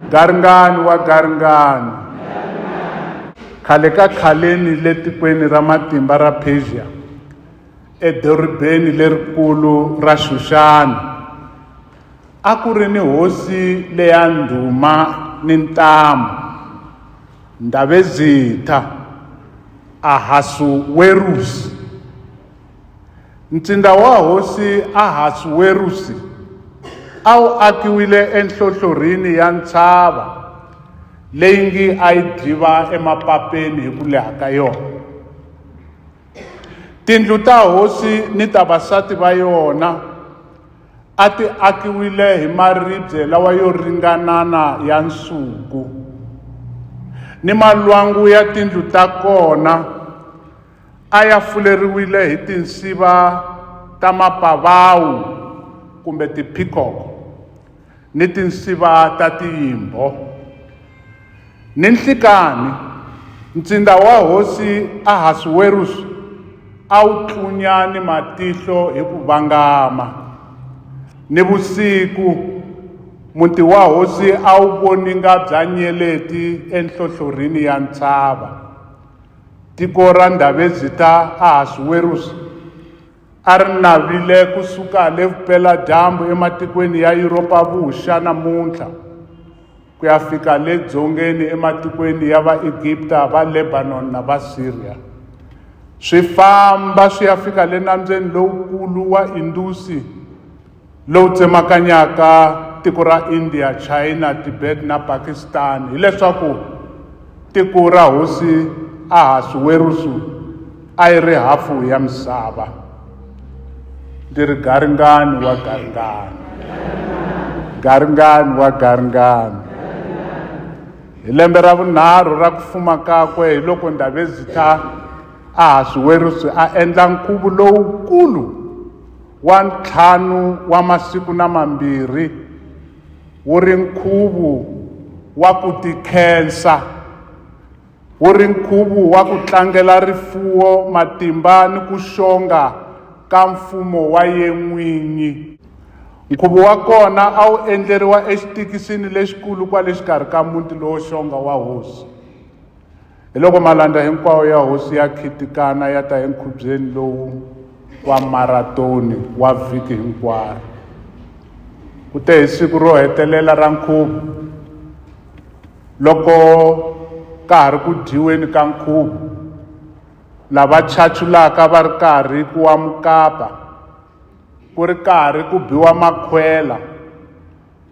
Garingani wa garingani. Khale ka khaleni le tikweni ra matimba ra Persia, edorobeni lerikulu ra Xuxani, a ku ri ni hosi leya ndhuma ni ntamu, Ndhavezitha Ahasuwerusi. Ntsinda wa Hosi Ahasuwerusi a wu akiwile enhlohlorhini ya ntshava leyi ngi a yi dyiva emapapeni hi ku leha ka yona. Tindlu ta hosi ni ta vasati va yona a ti akiwile hi maribye lawa yo ringanana ya nsuku, ni malwangu ya tindlu ta kona a ya fuleriwile hi tinsiva ta mapavawu kumbe tiphikoko ni tinsiva ta tiyimbho ni nhlikani ntsinda wa hosi ahasuwerusu a wu tlunya ni matihlo hi ku vangama ni vusiku muti wa hosi a wu voninga bya nyeleti enhlohlorini ya ntshava Tiko ra Ndhavezhi ta Ahasuweruxi a ri navile ku suka le vupela-dyambu ematikweni ya Yuropa-vuxa namuntlha ku ya fika le dzongeni ematikweni ya Vaegipta, Valebanoni na Vasiriya, swi famba swi ya fika le Nambyeni Lowukulu wa Indusi. lowu tsemakanyaka tiko ra India, China, Tibet na Pakistan hileswaku tiko ra hosi Ahasuwerusu a yi ri hafu ya misava. Ndzi ri garingani wa garingani, garingani wa garingani. Hi lembe ra vunharhu ra ku fuma kakwe hi loko Ndabezitha Ahasuwerusu a endla nkhuvo lowukulu wa ntlhanu wa masiku na mambirhi wu ri nkhuvu wa ku tikhensa wu ri nkhuvu wa ku tlangela rifuwo matimba ni ku xonga ka mfumo wa yen'winyi nkhuvo wa kona a wu endleriwa exitikisini lexikulu kwale xikarhi ka muti lowo xonga wa hosi Hi loko malandza hinkwawo ya hosi ya khitikana ya ta enkhubyeni lowu wa maratoni wa vhiki hinkwaro. Ku te hi siku ro hetelela ra nkhuvo, loko ka ha ri ku dyiweni ka nkhuvo, lava chachulaka va ri karhi ku wa mukapa, ku ri karhi ku biwa makhwela,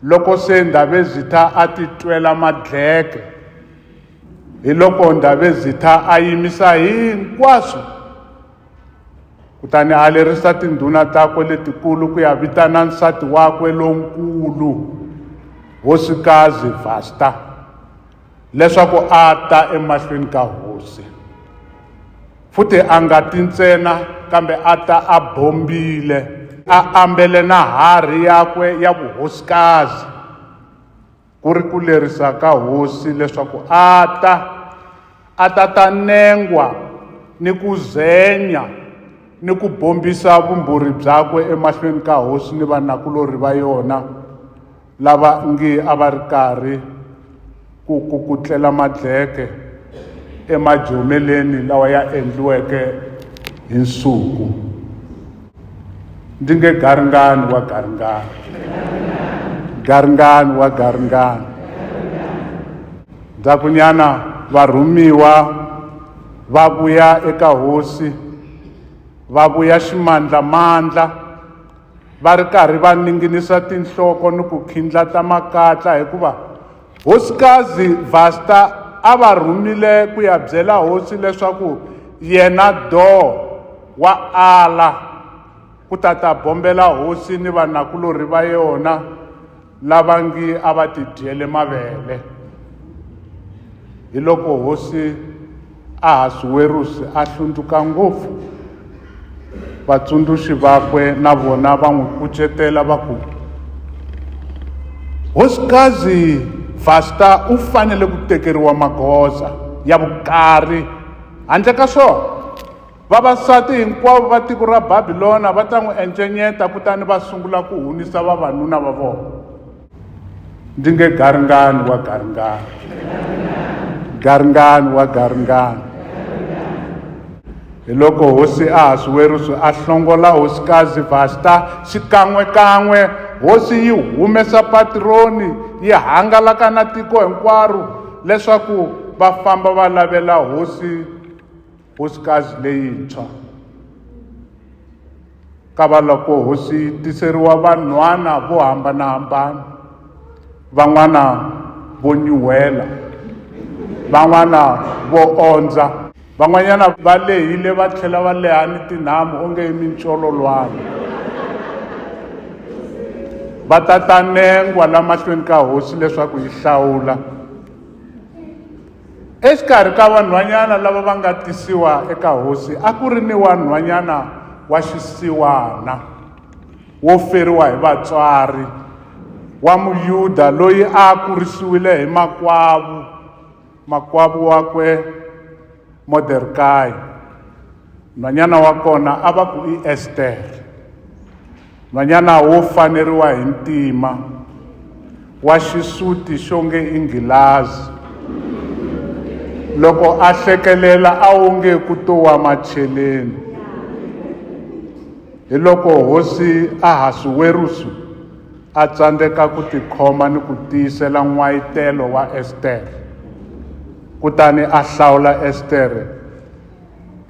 Loko se Ndhavezitha a ti twela madleke, hi loko Ndhavezitha a yimisa hinkwaswo kutani a lerisa tindhuna takwe letikulu ku ya vitana nsati wakwe lonkulu hosikazi Vasta leswaku a ta emahlweni ka hosi. Futhi a nga ti ntsena, kambe a ta a bombile, a ambele na harhi yakwe ya vuhosikazi, ku ri ku lerisa ka hosi leswaku a ta, a ta ta nengwa ni ku zenya ni ku bombisa vumbhuri byakwe emahlweni ka hosi ni vanakulorhi va yona, lava ngi a va ri karhi ku kukutlela madleke emajomeleni lawa ya endliweke hi nsuku ndzi nge garingani wa garingani garingani wa garingani ndzakunyana varhumiwa va vuya eka hosi va vuya ximandlamandla va ri karhi va ninginisa tinhloko ni ku khindlata makatla hikuva hosikazi vasta a va rhumile ku ya byela hosi leswaku yena doo wa ala ku ta ta bombela hosi ni vanakulorhi va yona lava ngi a va tidyele mavele hi loko hosi ahasuwerusi a hlundzuka ngopfu vatsundzuxi vakwe na vona va n'wi kucetela va ku hosikazi vasta u fanele ku tekeriwa magoza ya vukari handle ka swona Vavasati hinkwavo va tiko ra Babilona va ta n'wi encenyeta kutani va sungula ku hunisa vavanuna va vona. Ndzi nge garingani wa garingani, garingani wa garingani. Hi loko hosi Ahasuwerusu a hlongola hosikazi Vasta xikan'we-kan'we, hosi yi humesa patironi yi hangalaka na tiko hinkwaro leswaku va famba va lavela hosi Hosikazi leyintshwa, kavaloko hosi yi tiseriwa vanhwana vo hambana-hambana, van'wana vo nyuhela, van'wana vo ondza, van'wanyana va lehile va tlhela va leha ni tinhamu onge i mincololwana. Va ta ta nengwa lamahlweni ka hosi leswaku yi hlawula. Exikarhi ka vanhwanyana lava va nga tisiwa eka hosi a ku ri ni wanhwanyana wa xisiwana wo feriwa hi vatswari wa Muyuda loyi a kurisiwile hi makwavu makwavu wakwe Modekayi. nhwanyana wa kona a va ku i estere nhwanyana wo faneriwa hi ntima wa xisuti xo nge i nghilazi loko a hlekelela a wu nge ku to wa macheleni hi loko hosi ahasuwerusu a tsandzeka ku tikhoma ni ku tiyisela n'wayitelo wa estere kutani a hlawula estere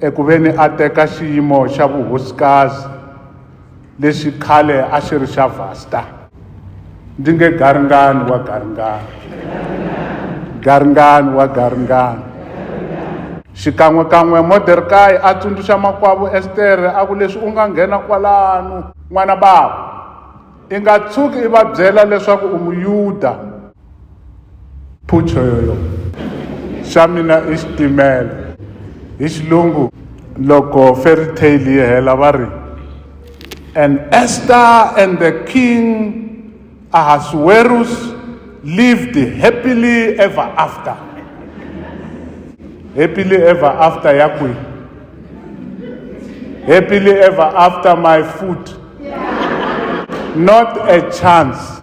eku ve ni a teka xiyimo xa vuhosikazi lexi khale a xi ri xa vasta ndzi nge garingani wa garingani garingani wa garingani xikan'wekan'we moderkayi a tsundzuxa makwavo estere a ku leswi u nga nghena kwalano n'wana bava i nga tshuki i va byela leswaku u muyuda Phucho yoyo. Xa mina i xitimela. Hi xilungu loko fairy tale yi hela va ri and Esther and the king Ahasuerus lived happily ever after. Happily ever after ya kwi. Happily ever after my food. Not a chance.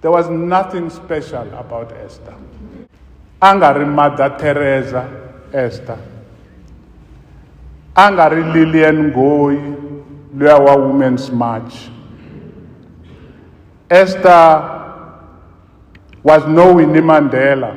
There was nothing special about Esther. A nga ri Mother Teresa Esther. A nga ri Lillian Ngoyi luya wa Women's March. Esther was no Winnie Mandela.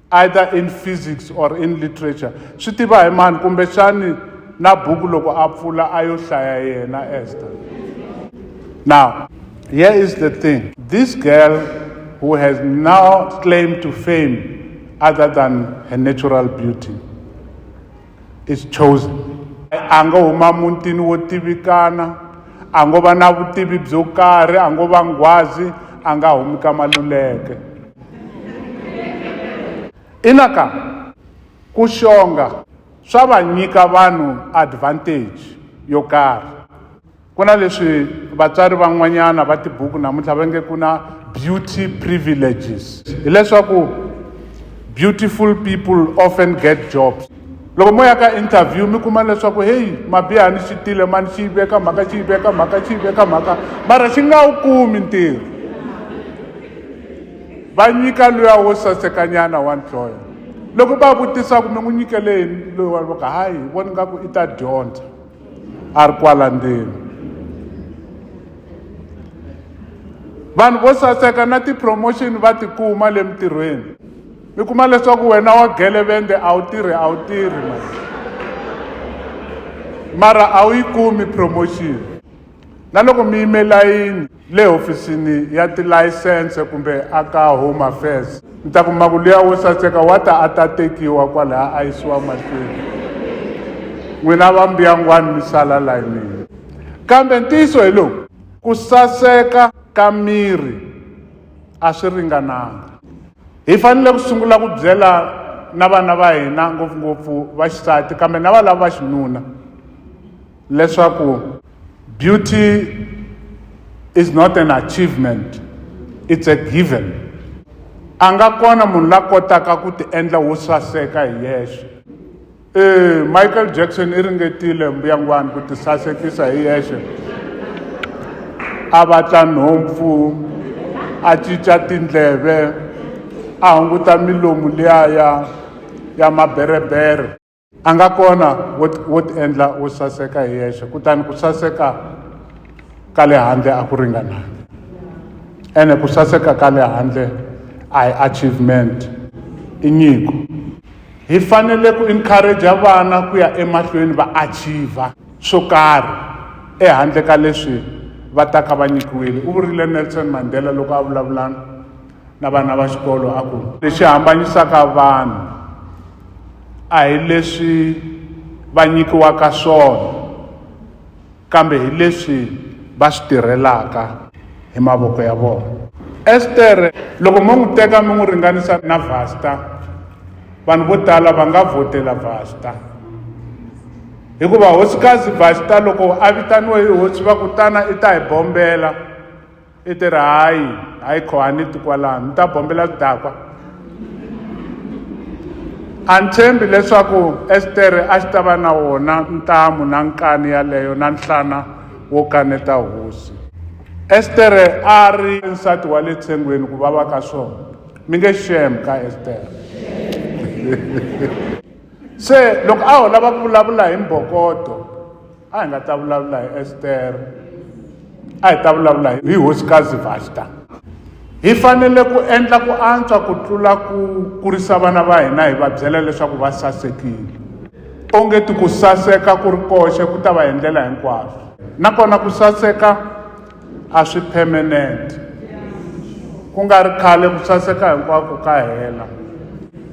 either in physics or in literature swi tiva hi mani kumbexani na buku loko a pfula a yo hlaya yena ester now here is the thing this girl who has now claimed to fame other than her natural beauty is chosen a ngo huma mutini wo tivikana a ngo va na vutivi byo karhi a ngo va nghwazi a nga humi ka maluleke ina ka ku xonga swa va nyika vanhu advantage yo karhi Ku na leswi vatswari van'wanyana va tibuku namuntlha va nge ku na beauty privileges hileswaku beautiful people often get jobs loko mo ya ka interview mi kuma leswaku heyi mabihani xi tile mani xi yi veka mhaka xi yi veka mhaka xi yi veka mhaka mara xi nga wu kumi ntirho va nyika luya wo sasekanyana wa nhloya loko va vutisa ku mi n'wi nyikele yini loyi wa ka hayi voni nga ku i ta dyondza a ri kwala ndzeni vanhu vo saseka na ti-promotion va tikuma le mintirhweni mi kuma leswaku wena wa gelevende a wu tirhi a wu tirhi ma mara a wu yi kumi promotion na loko mi yime layini le hofisini ya tilayisense kumbe a ka Home Affairs, mi ta kuma ku luya wo saseka wa ta a ta tekiwa kwalaya a yisiwa mahlweni. N'wina va mbuyangwani mi sala layinini. Kambe ntiyiso hi lowu, ku saseka ka miri a swi ringananga. Hi fanele ku sungula ku byela na vana va hina, ngopfungopfu va xisati kambe na valavo va xinuna leswaku. Beauty is not an achievement, it's a given. A nga kona munhu la kotaka ku ti endla wo saseka hi yexe. Eh, Michael Jackson i ringetile mbuyangwani ku ti sasekisa hi yexe. A vatla nhompfu, a cinca tindleve, a hunguta milomu liya ya ya maberebere. a nga kona wo ti- wo ti endla wo saseka hi yexe kutani ku saseka ka le handle a ku ringananga ene ku saseka ka le handle a hi achievement i nyiko hi fanele ku encourage vana ku ya emahlweni va achieve swo karhi ehandle ka leswi va taka va nyikiwile u vurile nelson mandela loko a vulavulana na vana va xikolo a ku lexi hambanyisaka vanhu a hi leswi va nyikiwaka swona kambe hi leswi va swi tirhelaka hi mavoko ya vona estere loko mo n'wi teka mi n'wi ringanisa na vasta vanhu vo tala va nga vhotela vasta hikuva hosikazi vasta loko a vitaniwe hi hosi va kutana i ta hi bombela i ti ri hayi hayi kho a ni ti kwalano ni ta bombela swidakwa a ni tshembi leswaku estere a xi ta va na wona ntamu na nkani yaleyo na nhlana wo kaneta hosi estere a ri nsati wa le tshengweni ku vava ka swona mi nge shem ka estere se loko a ho lava ku vulavula hi mbokoto a hi nga ta vulavula hi estere a hi ta vulavula hi hosikazi vasta hi fanele ku endla ku antswa ku tlula ku kurisa vana va hina hi va byela leswaku va sasekile onge ti ku saseka ku ri koxe ku ta va hi ndlela hinkwaswo nakona ku saseka a swi permanent ku nga ri khale ku saseka hinkwako ka hela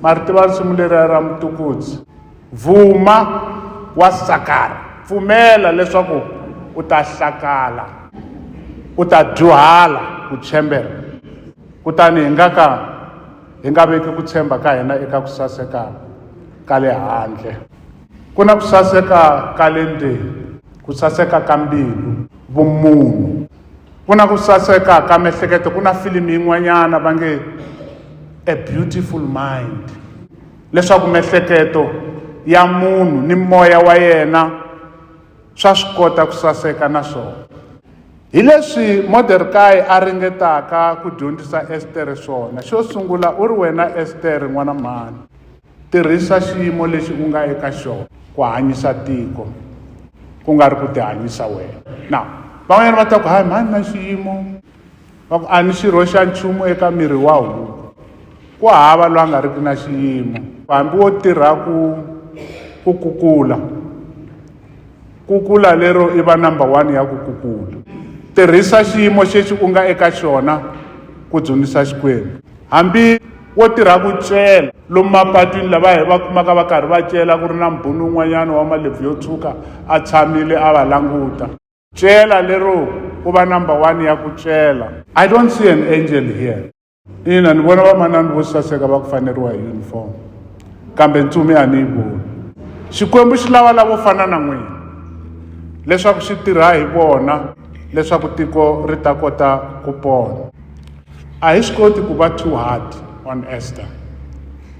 ma ri tiva risimu leriya ra mutukudzi Vuma wa sakara, pfumela leswaku u ta hlakala, u ta dyuhala ku tshembeka, kutani hi nga ka hi nga veki ku tshemba ka hina eka ku saseka ka le handle. Ku na ku saseka ka le ndzeni, ku saseka ka mbilu, vumunhu. Ku na ku saseka ka miehleketo. Ku na filimi yin'wanyana va nge A Beautiful Mind. leswaku miehleketo ya munhu ni moya wa yena swa swi kota ku saseka na swona hi leswi modekayi a ringetaka ku dyondzisa estere swona xo sungula u ri wena estere n'wana mhani tirhisa xiyimo lexi u nga eka xona ku hanyisa tiko ku nga ri ku tihanyisa wena na van'wanyana va ta ku hayi mhani na xiyimo va ku a ni xirho xa nchumu eka miri wa huku ku hava loyi a nga riki na xiyimo hambi wo tirha ku ku kukula kukula lero i va number one ya ku kukula tirhisa xiyimo xexi u nga eka xona ku dzunisa xikwembu hambi wo tirha ku cela lomu mapatwini lava hi va kumaka va karhi va cela ku ri na mbhunu un'wanyana wa malebvu yo tshuka a tshamile a va languta Cela lero ku va number one ya ku cela. I don't see an angel here. Ina ni vona vamanana vo saseka va ku faneriwa hi uniform kambe ntsumi a ni yi voni. Xikwembu xi lava lavo fana na n'wina leswaku xi tirha hi vona leswaku tiko ri ta kota ku pona a hi swi koti ku va two heart on ester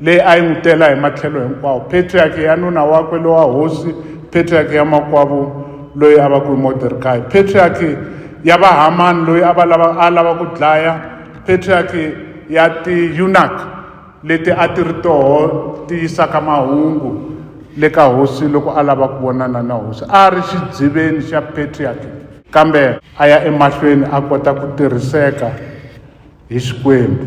leyi a yi n'wi tela hi matlhelo hinkwawo patriaki ya nuna wakwe lowa hosi patriaki ya makwavu loyi a va ku hi moderkayi patriaki ya vahamani loyi a va lava a lava ku dlaya patriaki ya tiyunak leti a ti ri toho ti yisaka mahungu le ka hosi loko a lava ku vonana na hosi a ri xidziveni xa patriaki kambe a ya emahlweni a kota ku tirhiseka hi xikwembu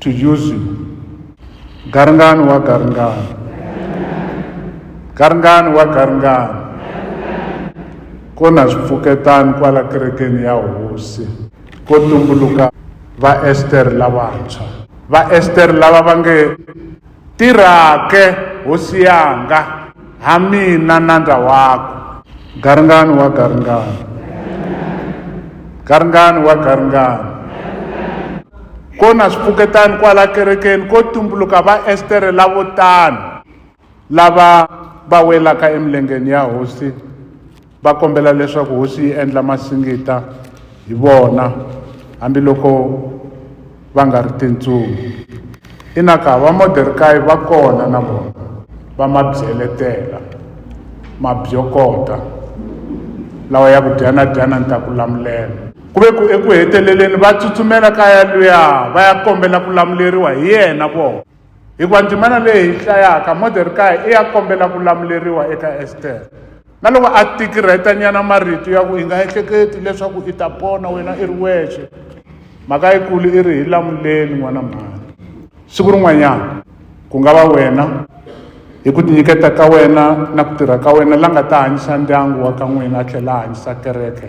to use you garingani wa garingani garingani wa garingani ko na swipfuketani kwala kerekeni ya hosi ko tumbuluka vaesteri lavantshwa vaesteri lava va nge Tirhake, hosi yanga, ha mina nandza wako. Garingani wa garingani. Garingani wa garingani. Ko na swipfuketani kwala kerekeni ko tumbuluka va Estere lavo tano lava va welaka emilengeni ya hosi. Va kombela leswaku hosi yi endla masingita hi vona hambiloko va nga ri tintsumi. Inaka va Moderkayi va kona na vona, va ma byeletela, ma byokota, lawa ya ku, Dyana-dyana, ni ta ku lamulela. Ku ve ku eku heteleleni va tsutsumela ka yaluya va ya kombela ku lamuleriwa hi yena vona. Hikuva ndzimana leyi hi hlayaka Modherikayi i ya kombela ku lamuleriwa eka Estere. Na loko a tikirheta nyana marito ya ku i nga ehleketi leswaku i ta pona wena i ri wexe mhaka yikulu i ri hi lamuleni n'wana mhani siku rin'wanyana ku nga va wena hi ku tinyiketa ka wena na ku tirha ka wena la nga ta hanyisa ndyangu wa ka n'wina a tlhela a hanyisa kereke